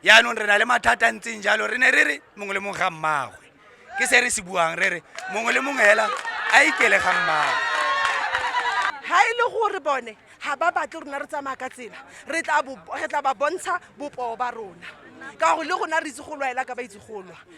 yaanong re na le mathata a ntseng jalo re ne re re mongwe le mongwe ga mmagwe ke se re se buang re re mongwe le mongwe hela a ikele ga mmagwe ha e le gore bone ga ba batle rona re tsamaya ka tsela re tla ba bontsha bopoo ba rona ka gore le gona re itse go lwaela ka ba itse go lwa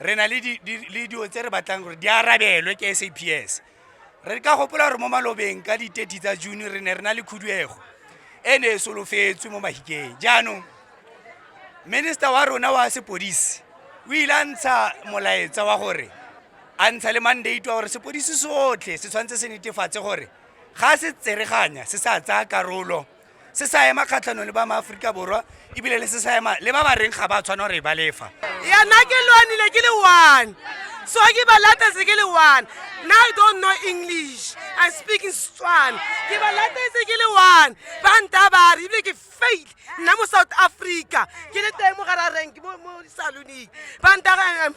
re na le dilo tse re batlang gore di arabelwe ke saps re ka gopola gore mo malobeng ka diteti tsa june re ne re na le khuduego e ne e solofetswe mo mahikeng jaanong minister wa rona wa sepodisi o ile a ntsha molaetsa wa gore a ntsha le mandate wa gore sepodisi sotlhe se tshwanetse se netefatse gore ga se tsereganya se sa tsaya karolo se sa ema kgatlhanong le ba maaforika borwa ebile le se sa ema le ba ba reng ga ba tshwana gore e ba lefa yana ke lwanile ke le one so ke ba latetse ke le one na i don't know english i speak in setswana ke ba latetse ke le one ba ntabare ebile ke fail nna mo south africa ke le teng mo gara rank mo salonic ba ntaga am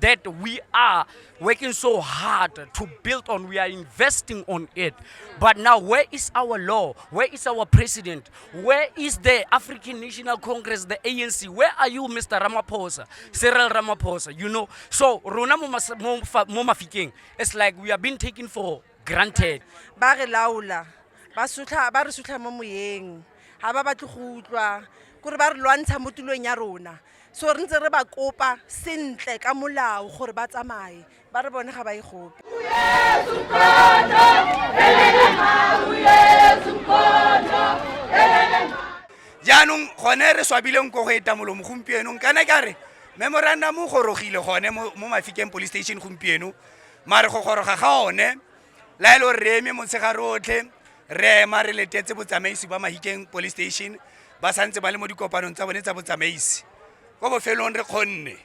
that we are working so hard to build on, we are investing on it. But now, where is our law? Where is our president? Where is the African National Congress, the ANC? Where are you, Mr. Ramaphosa, Cyril Ramaphosa? You know, so Rona Momafiking, it's like we are being taken for granted. Ba re laula, ba sutlha, ba re sutlha mo moyeng, ha ba batle go utlwa, kore ba re lwantsha mo tulong ya rona. so re ntse re ba kopa sentle ka molao gore ba tsamaye ba re bone ga ba e gope jaanong gone re swabileng ko go eta molomo gompienong kana ka re memorandum o gorogile gone mo mafikeng police station gompieno mare go goroga ga one la e le gore re eme motshegare otlhe re ema re letetse botsamaisi ba mahikeng police station ba santse ba le mo dikopanong tsa bone tsa botsamaisi ko bofelong re kgonne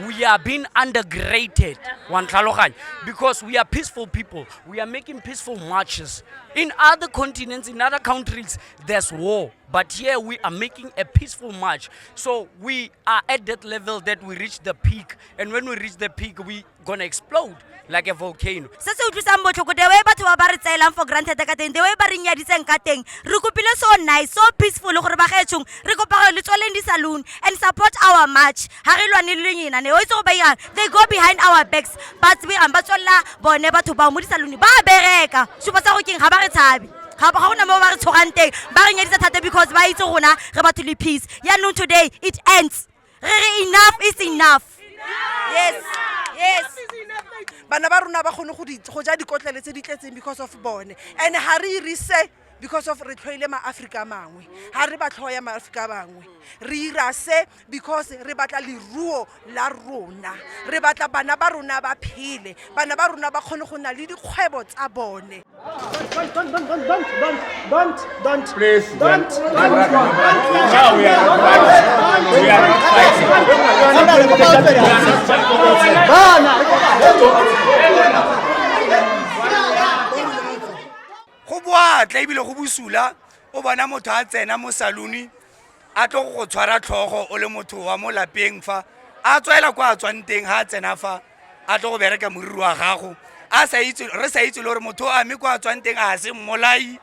we are being undergraded wantlhaloganya because we are peaceful people we are making peaceful marches in other continents in other countries there's war but here we are making a peaceful march so we are at that level that we reach the peak and when we reach the peak we gonna explode like a volcano se se utlwisang botlhoko the way batho ba ba re tsaelang for granted ka teng the way ba re nyaditseng ka teng re kopile so nice so peaceful gore ba gaetshong re kopa gore le tsweleng di-saloon and support our march ga re lwane le lenyena ne o itse go ba irang they go behind our backs ba tsebirang ba tswelela bone batho bao mo di-saloon ba bereka supa sa go keng ga ba re tshabe ga gona mo ba re tshoganteng ba re nyedisa thata because ba itse rona re batho le peace yaanong today it ends re re enough is enough yes yes bana ba rona ba kgone go di- go ja dikotlele tse di tletseng because of bone and ga re irise because of re tlhoile maaforika a mangwe ga re ba tlhoya maaforika a bangwe re ira se because re batla leruo la rona re batla bana ba rona ba phele bana ba rona ba kgone go na le dikgwebo tsa bone go boatla ebile go bosula o bona motho a tsena mo salone a tlo go tshwara tlhogo o le motho wa mo lapeng fa a tswela kwa a tswang teng ga a tsena fa a tlo go bereka moriri wa gago a sa itse re sa itse le gore motho a mme kwa a tswang teng a se mmolai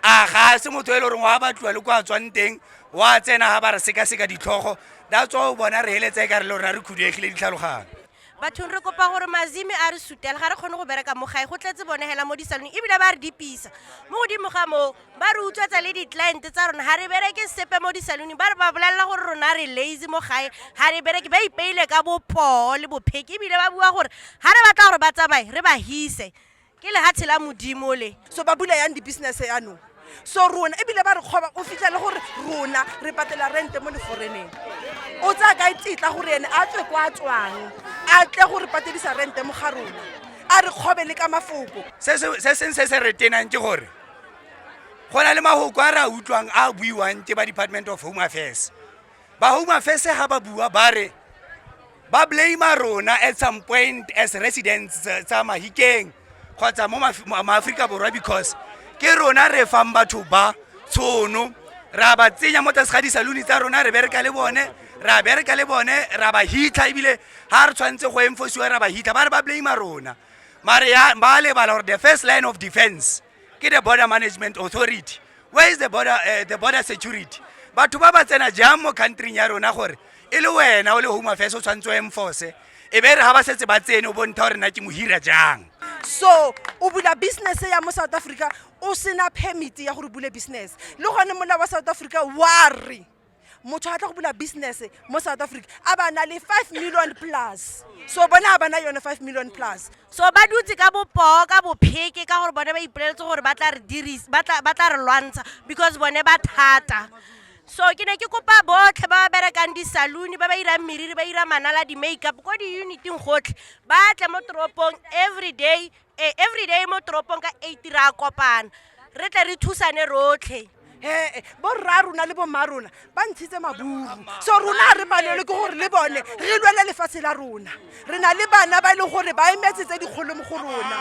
a ga a se motho e le goreng wa batliwa le kwa a tswang teng wa tsena ga ba re sekaseka ditlhogo that's why o bona re heletse e ka re le rona re khuduegile ditlhaloganyo bathong re kopa gore mazimi a re sutela ga re kgone go bereka mo gae go tletse bone hela mo disalone ebile ba re dipisa mo godimo ga moo ba re utswetsa le di-client tsa rona ga re bereke sepe mo disalone ba re ba bolelela gore rona re lazy mo gae ga re bereke ba ipeile ka bopoo le bopheki ebile ba bua gore ga re batla gore ba tsamaye re ba hise ke lehatshe la modimo le so ba bula yang di-business yanong so rona ebile ba re kgoba o fitlha le gore rona re patela rente mo leforeneng o tsaya kae tsetla gore ene a tswe kwa tswang a tle gore patedisa rente mo ga rona a re kgobe le ka mafoko se seng se se re tenang ke gore go na le mahoko a re a utlwang a buiwang ke ba department of home affairs ba home affairs ga ba bua ba re ba blame rona at some point as residents tsa mahikeng kgotsa mo maaforika borwa because ke rona re fang batho ba tshono ra ba tsenya mo tlase ga disaluni tsa rona re bereka le bone ra bereka le bone ra ba hitlha ebile ga re tshwanetse go enforciwa ra ba hitlha ba re ba blame rona mare ya ba lebala gore the first line of defense ke the border management authority where is the border, uh, the border security batho ba ba tsena jang mo countryn ya rona gore e le wena o le home affairs o tshwanetse o enforce e be re ga ba setse ba tsene o bonta gore na ke mohira jang so o bula business ya mo south africa o sena permit ya gore bule business le gone molao wa south africa wa re motho a tla go bula business mo south africa a ba na le five million plus so bone a ba na yone five million plus so ba dutse ka bopoo ka bopheke ka gore bone ba ipoleletse gore ba tla re diris ba tla ba tla re lwantsha because bone ba thata so ke ne ke kopa botlhe ba ba berekang di-saloon ba ba irang meriri ba ira manala di-makeup ko di-uniting gotlhe ba tle mo toropong every day e everyday mo toropong ka eight re a kopana re tle re thusane rotlhe ee borra rona le bomma rona ba ntshitse maburu so rona ga re palelwe ke gore le bone re lwele lefatshe la rona re na le bana ba e leng gore ba emetse tse dikgolo mo go rona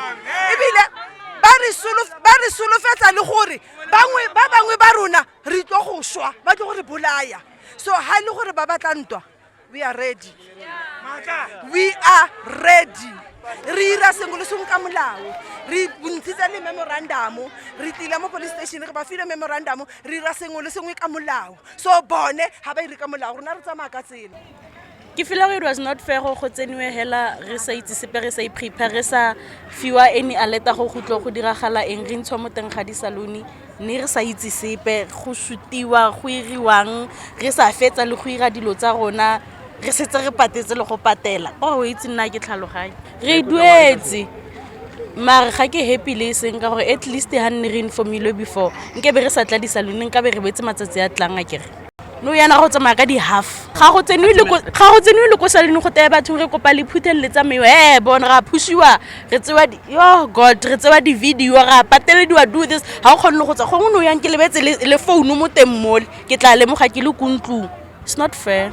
ebile ba re solo- ba re solofetsa le gore bangwe ba bangwe ba rona re tlo go swa ba tlo gore bolaya so ga e le gore ba batla ntwa we are ready we are ready re ira sengwe le sengwe ka molao re bontshitse le memorandamo re tlile mo police station re ba file memorandamo re ira sengwe le sengwe ka molao so bone ga ba ire ka molao rona re tsamaya ka tsela ke feel gore it was not fair go tseniwe hela re sa itse sepe re sa iprepare re sa fiwa any aleta go gutlo go diragala eng re ntshwa mo teng ga di-salone Mme re sa itse sepe, go sutiwa, go iriwang, re sa fetsa le go ira dilo tsa rona, re setse re patetse le go patela. O oh, itse nna ke tlhaloganye. Re e duetse. Mare ga ke happy le e seng ka gore at least ha nne re informilwe before, nkabe re sa tla di-saloon, nkabe re boetse matsatsi a tlang a kere. no yana go tsamaya ka di-half ga go tsenwe le ko saleng go teye batho re kopa le phuthelele tsameo e eh, bone ra phusiwa re tsewa yo god re tsewa di-video ra patelediwa do this ga o kgone le go tswa gongwe no yang ke lebetse le founu mo teng mole ke tla lemoga ke le ko ntlong it's not fair